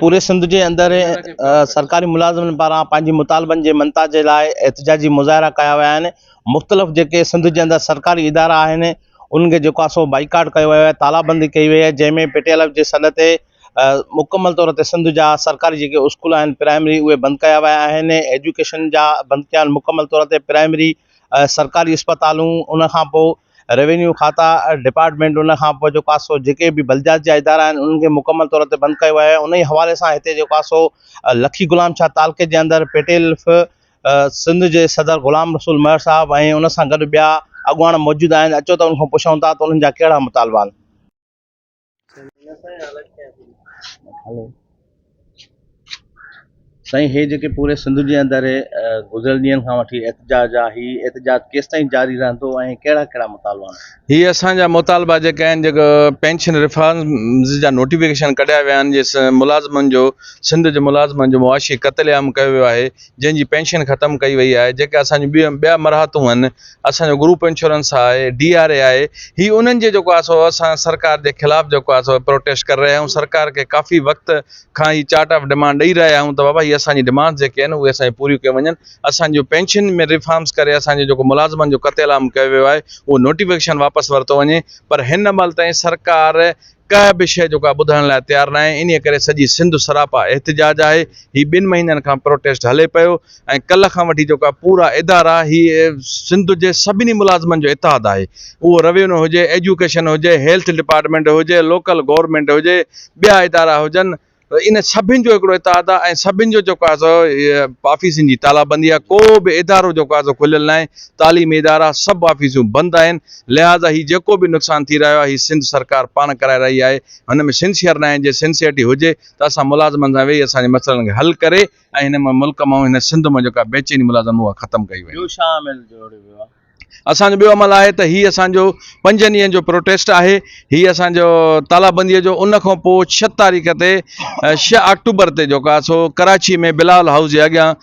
پوري سنڌ جي اندر سرڪاري ملازمن پاران پنهنجي مطالبن جي منتا جي لاء احتجاجي مظاهرا ڪيا ويا آهن مختلف جيڪي سنڌ جي اندر سرڪاري ادارا آهن انهن کي جيڪو سو بائيڪاٽ ڪيو ويو آهي تالابندي ڪئي وئي آهي جنهن ۾ پٽيالا جي سڏ تي مڪمل طور تي سنڌ جا سرڪاري جيڪي اسڪول آهن پرائمري اهي بند ڪيا ويا آهن ايجوڪيشن جا بند ڪيا آهن مڪمل طور تي پرائمري سرڪاري اسپتالون ان کان پوء روينيو کاتا ڊپارٽمينٽ ان کان پوء جيڪو آسو جيڪي به بلديات جا ادارا آهن انهن کي مڪمل طور تي بند ڪيو آهي انهي حوالي سان هتي جيڪو آسو لکي غلام شاهه تعلقي جي اندر پيٽيل ف سنڌ جي صدر غلام رسول مهر صاحب ۽ ان سان گڏ ٻيا اڳواڻ موجود آهن اچو ته ان کان پڇون ٿا ته انهن جا ڪهڙا مطالبا آهن. سائين هي جيڪي پوري سنڌ جي اندر گذريل ڏينهن کان وٺي احتجاج آ هي احتجاج ڪيستائين جاري رهندو ۽ ڪهڙا ڪهڙا مطالبا آهن هي اسان جا مطالبا جيڪي آهن جيڪو پينشن ريفارمز جا نوٽيفڪيشن ڪڍيا ويا آهن جي ملازمن جو سنڌ جي ملازمن جو معاشي قتل عام ڪيو ويو آهي جنهن جي پينشن ختم ڪئي وئي آهي جيڪي اسان جون ٻيون ٻيا مراحتون آهن اسانجو گروپ انشورنس آهي ڊي آر اي آهي هي انهن جي جيڪو آهي سو اسان سرڪار جي خلاف جيڪو آهي سو پروٽيسٽ ڪري رهيا آهيون سرڪار کي ڪافي وقت کان هي چارٽ آف ڊمانڊ ڏئي رهيا آهيون ته بابا هي اسانجي ڊمانڊ جيڪي آهن اهي اسانجي پوريون ڪيون وڃن اسان جون پينشن ۾ ريفارمس ڪري اسانجو جيڪو ملازمن جو قتل عام ڪيو ويو آهي اهو نوٽيفڪيشن واپس ورتو وڃي پر هن مهل تائين سرڪار ڪنهن به شيء جو ڪا ٻڌڻ لاء تيار ناهي انهيء ڪري سڄي سنڌ سراپا احتجاج آهي هي ٻن مهينن کان پروٽيسٽ هلي پيو ۽ ڪلهه کان وٺي جو ڪا پورا ادارا هي سنڌ جي سڀني ملازمن جو اتحاد آهي اهو روينو هجي ايجوڪيشن هجي هيلٿ ڊپارٽمينٽ هجي لوڪل گورنمينٽ هجي ٻيا ادارا هجن ان سڀن جو هڪڙو اتحاد آهي ۽ سڀن جو جيڪو آهي سو آفيسن جي تالابندي آهي ڪو به ادارو جيڪو آهي سو کليل ناهي تعليمي ادارا سڀ آفيسون بند آهن لهٰذا هي جيڪو به نقصان ٿي رهيو آهي هي سنڌ سرڪار پاڻ ڪرائي رهي آهي هن ۾ سنسيئر ناهي جي سنسيئرٽي هجي ته اسان ملازمن سان ويهي اسان جي مسئلن کي حل ڪري ۽ هن ملڪ مان هن سنڌ مان جيڪا بيچيني ملازم اها ختم ڪئي وڃي. اسان جو ٻيو عمل آهي ته هي اسان جو پنجن ڏينهن جو پروٽيسٽ آهي هي اسان جو تالابنديء جو ان کان پوء ڇهه تاريخ تي ڇهه آڪٽوبر تي جيڪو آهي سو ڪراچي ۾ بلاول هائوس جي اڳيان